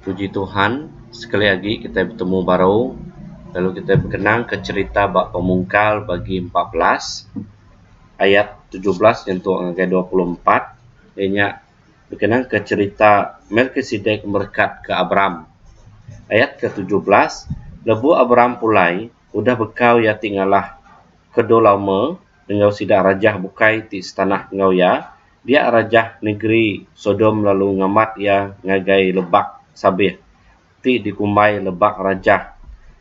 Puji Tuhan sekali agi kitai betemu baru lalu kitai bekenang ka cherita ba pemungkal bagi empat belas ayat tujuh belas nyentuk ngagai dua puluh empat iya nya bekenang ka cherita Melkisedek merekat ka Abram. Ayat ke tujuh belas lebu Abram pulai udah bekau iya ti ngalah ke dau lama enggau sida rajah bukai ti setanah enggau iya, dia rajah negeri Sodom lalu ngamat iya ngagai lebak sabih, ti dikumbai Lebak Rajah.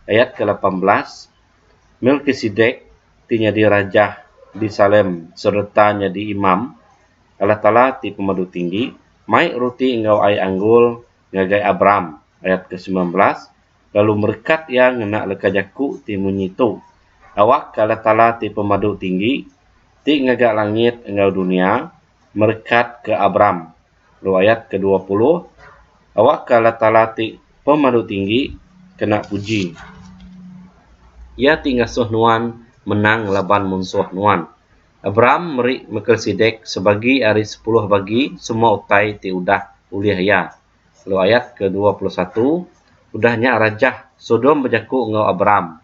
Ayat ke lapan belas, Melkisedek, ti nyadi rajah di Salem sereta nyadi imam Allah Taala ti Pemadu Tinggi, mai ruti enggau ai anggul ngagai Abram. Ayat ke semilan belas. lalu merekat iya ngena leka jaku ti munyi tu, Awak ke Allah Taala ti Pemadu Tinggi, ti ngaga langit enggau dunya, merekat ke Abram. Lalu ayat ke dua puluh, Awak ke Allah Taala ti Pemadu Tinggi kena puji. Iya ti ngasuh nuan menang ngelaban munsuh nuan. Abram meri Melkisedek sebagi ari sepuluh bagi semua utai ti udah ulih iya. Lalu ayat ke dua puluh satu, Udah nya rajah Sodom bejaku enggau Abram,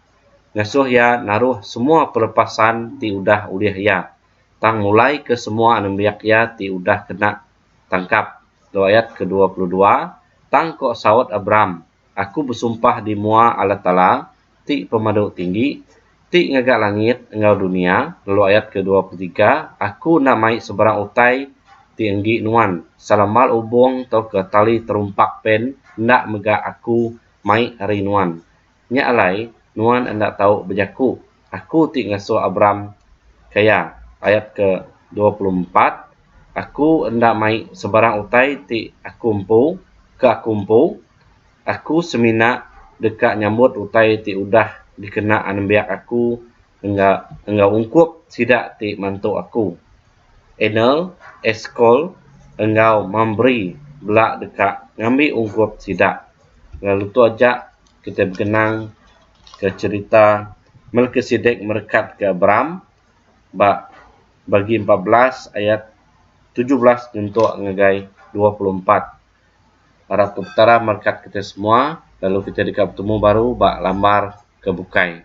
ngasuh iya naruh semua pelepasan ti udah ulih iya, tang mulaika semua anembiak iya ti udah kena tangkap. Lalu ayat ke dua puluh dua, Tang ko saut Abram, Aku besumpah di mua Allah Taala, ti pemadu tinggi, ti ngaga langit enggau dunia, lalu ayat ke dua puluh tiga, Aku enda mai sebarang utai ti enggi nuan, selamal ubung tauka tali terumpak pen enda mega Aku mai ari nuan. Nya alai, nuan enda tau bejaku, Aku ti ngasuh Abram ke iya, ayat ke dua puluh empat, Aku enda mai sebarang utai ti Aku empu, ke Aku empu, Aku semina deka nyambut utai ti udah dikena anembiak aku enggau ungkup sida ti mantu aku. Anel, Eskol, enggau Mambri bela deka ngambi ungkup sida. Lalu tu aja kitai begenang ke cherita Melkisedek merekat ke Abram ba Bagi empat belas ayat tujuh belas nyentuk ngagai dua puluh empat. Arap ke Petara merkat kita semua lalu kita deka betemu baru ba lambar ke bukai.